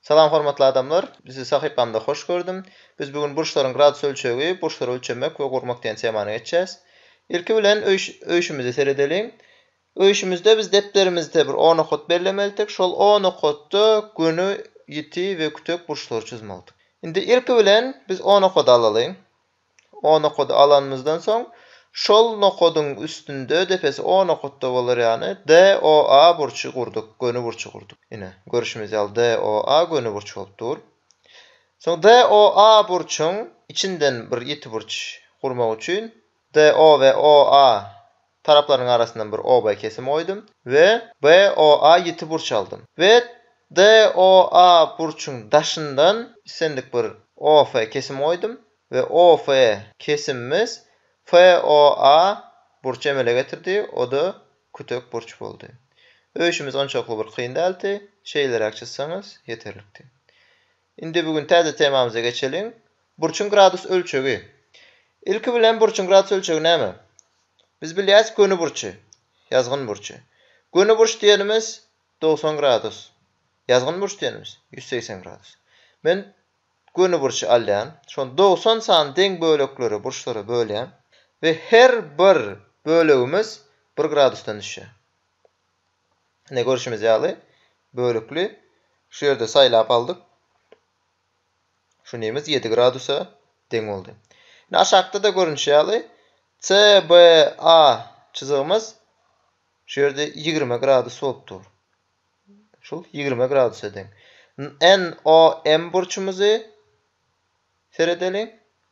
Salam hormatly adamlar! Bizi sahypamda hoş gördüm! Biz bu gün burçlaryň gradus ölçegi, burçlary ölçemek we gurmak diýen temany geçýäs. Ilki bilen öýşümize seredeliň. Öýşümizde biz depderimizde bir O nokat bellemelidik. Şol O nokatda göni, ýiti we kütek burçlary çyzmalydyk. Indi ilki bilen biz O nokady alalyň. O nokady alanymyzdan soň, şol nokadyň üstünde, depesi O nokatda bolar ýaly, DOA burçy gurduk, göni burçy gurduk. Ine, görşümiz ýaly, DOA göni burç bolup dur. Soň DOA burçuň içinden bir ýiti burç gurmak üçin DO we OA Taraplaryň arasyndan bir oba kesim goýdum we BOA ýiti burç aldym. We DOA burçuň daşyndan islendik bir OF kesim goýdum we OF kesimimiz FOA burçy emele getirdi, o-da kütek burç boldy. Öýşümiz onçakly bir kyn dälti, şeýleräk çyzsaňyz ýeterlikdi. Indi bu gün täze temamyza geçeliň. Burçuň gradus ölçegi. Ilki bilen burçuň gradus ölçegi näme? Biz bilýäs göni burçy, ýazgyn burçy. Göni burç diýenimiz dogsan gradus. Ýazgyn burç diýenimiz ýüz segsen gradus. Men göni burçy alýan. Şony dogsan sany deň böleklere, burçlara bölýän we her bir bölegimiz bir gradusdan düşýär. Ine görşümiz ýaly bölükli şu ýerde saýlap aldyk. Şu nimiz ýedi gradusa deň boldy. Ine aşakda-da görnüşi ýaly CBA çyzygymyz şu ýerde ýigrimi gradus bolup dur. Şul ýigrimi gradusa deň. NOM burçumyzy Seredeliň.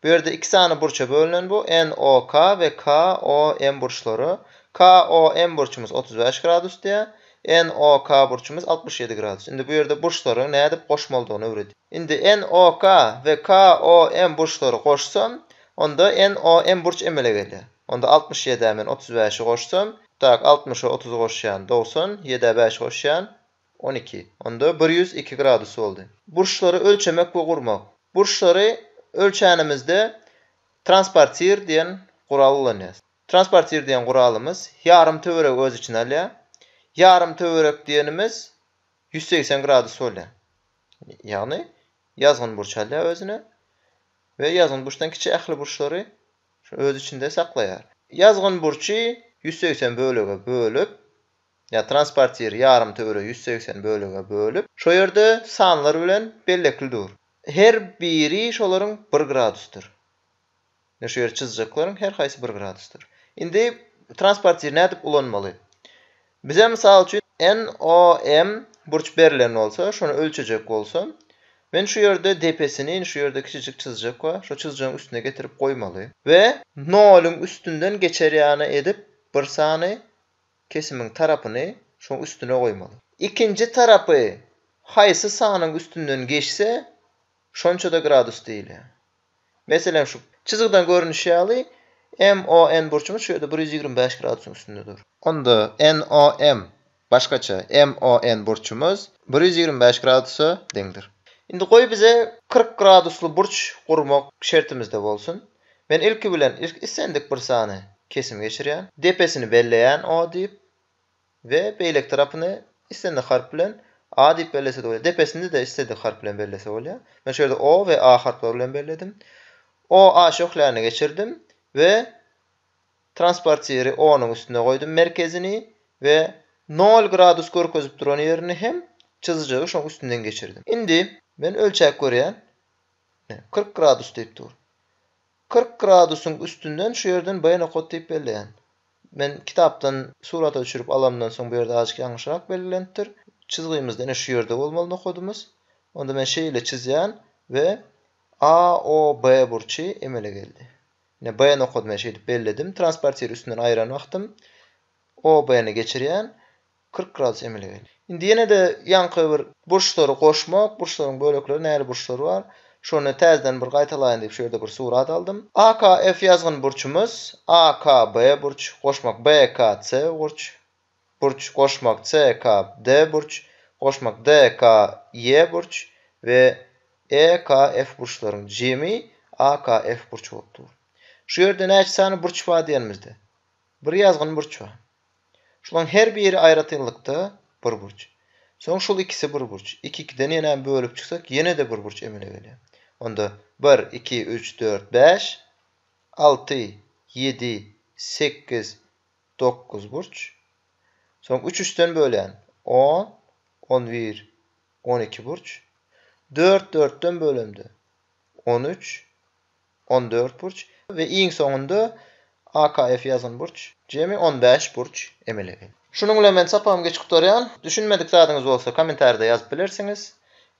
Bu ýerde iki sany burça bölünen bu NOK we KOM burçlary. KOM burçumyz otuz bäş gradus diýýär. NOK burçumyz altmyş ýedi gradus. Indi bu ýerde burçlaryň nädip goşmalydygyny öwredýär. Indi NOK we KOM burçlary goşsam, onda NOM burç emele gelýär. Onda altmyş ýedä men otuz bäşi goşsam, tak, altmyşa otuzy goşýan, dogsan, ýedä bäşi goşýan, On iki. Onda bir ýüz iki gradus boldy. Burçlary ölçemek we gurmak. Burçlary ölçänimizde transportir diýen gural ulanýarys. Transportir diýen guralymyz ýarym töweregi öz içine alýar. Ýarym töwerek diýenimiz ýüz segsen gradus bolýar. Ýagny ýazgyn burç alýar özüne we ýazgyn burçdan kiçi ähli burçlary öz içinde saklaýar. Ýazgyn burçy ýüz segsen bölege bölüp, ýa transportiri ýarymtöwere ýüz segsen bölege bölüp, şo ýerde sanlar bilen bellekli dur. Her biri şolaryň bir gradusdyr. Ine şu ýeri çyzjaklaryň her haýsy bir gradusdyr. Indi transportiri nädip ulanmaly? Bize mysal üçin NOM burç berlen bolsa, şony ölçejek bolsam, men şu ýerde depesini indi şu ýerde kiçijik çyzjak we şo çyzjagyň üstüne getirip goýmaly we noluň üstünden geçer ýany edip bir sany Kesimiň tarapyny şoň üstüne goýmaly. Ikinji tarapy haýsy sanyň üstünden geçse, şonça-da gradus diýilýär. Meselem, şu çyzgydan görnüşi ýaly, MON burçumyz şu ýerde bir ýüz ýigrimi bäş gradusyň üstünde dur. Onda NOM, başgaça, MON burçumyz bir ýüz ýigrimi bäş gradusa deňdir. Indi goý bize kyrk gradusly burç gurmak şertimizde bolsun. Men ilki bilen ilk islendik bir sany kesim geçirýän. Depesini belleýän O diýip we beýleki tarapyny islendik harp bilen A diýip bellese-de bolýar. Depesini-de isledik harp bilen bellese bolýar. Men şu ýerde O we A harplary bilen belledim. O A şöhläni geçirdim we transportiri O-nyň üstüne goýdum merkezini we nol gradus görkezip duran ýerini hem çyzyjygy şoň üstünden geçirdim. Indi men ölçäp görýän. Kyrk gradus diýip dur. Kyrk gradusyň üstünden şu ýerden B nokat diýip belleýän. Men kitapdan surata düşürip alanymdan soň bu ýerde azajyk ýalňyşrak belgilenipdir. Çyzgymyzda ine şu ýerde bolmaly nokadymyz. Onda men şeýle çyzýan we AOB burçy emele geldi. Ine B nokady men şeýdip belledim. Transportir üstünden aýran wagtym OB-ni geçirýän. Kyrk gradus emele gelýär. Indi ýene-de ýaňky bir burçlary goşmak, burçlaryň bölekleri näli burçlar bar, şony täzeden bir gaýtalaýyn diýip şu ýerde bir surat aldym. AKF ýazgyn burçumyz, AKB burç, goşmak BKC gurç, burç, goşmak CKD burç, goşmak DKY burç we EKF burçlaryň jemi AKF burç bolup dur. Şu ýerde näçe sany burç bar diýenimizde, bir ýazgyn burç bar. Şulaň her biri aýratynlykda bir burç. Soň şul ikisi bir burç. Iki-ikiden ýenäm bölüp çyksak ýene-de bir burç emele gelýär. Onda bir, iki, üç, dört, bäş, alty, ýedi, sekiz, dokuz burç. Soň üç üçden bölýän, on, on bir, on iki burç. Dört dörtden bölemde, on üç, On dört burç we iň soňunda AKF ýazan burç, jemi on bäş burç emele geldi. Şunuň bilen men sapagymy geçip gutarýan. Düşünmedik zadyňyz bolsa kommentarida ýazyp bilersiňiz.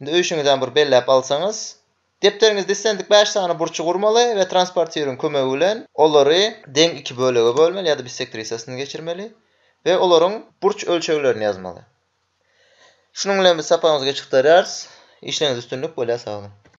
Indi öýşüňizem bir belläp alsaňyz. Depderiňizde islendik bäş sany burçy gurmaly we transportiryň kömegi bilen olary deň iki bölege bölmeli ýa-da bissektrisasyny geçirmeli we olaryň burç ölçeglerini ýazmaly. Şunuň bilen biz sapagymyzy geçip gutarýarys. Işleňizde üstünlik, bolýa sag boluň!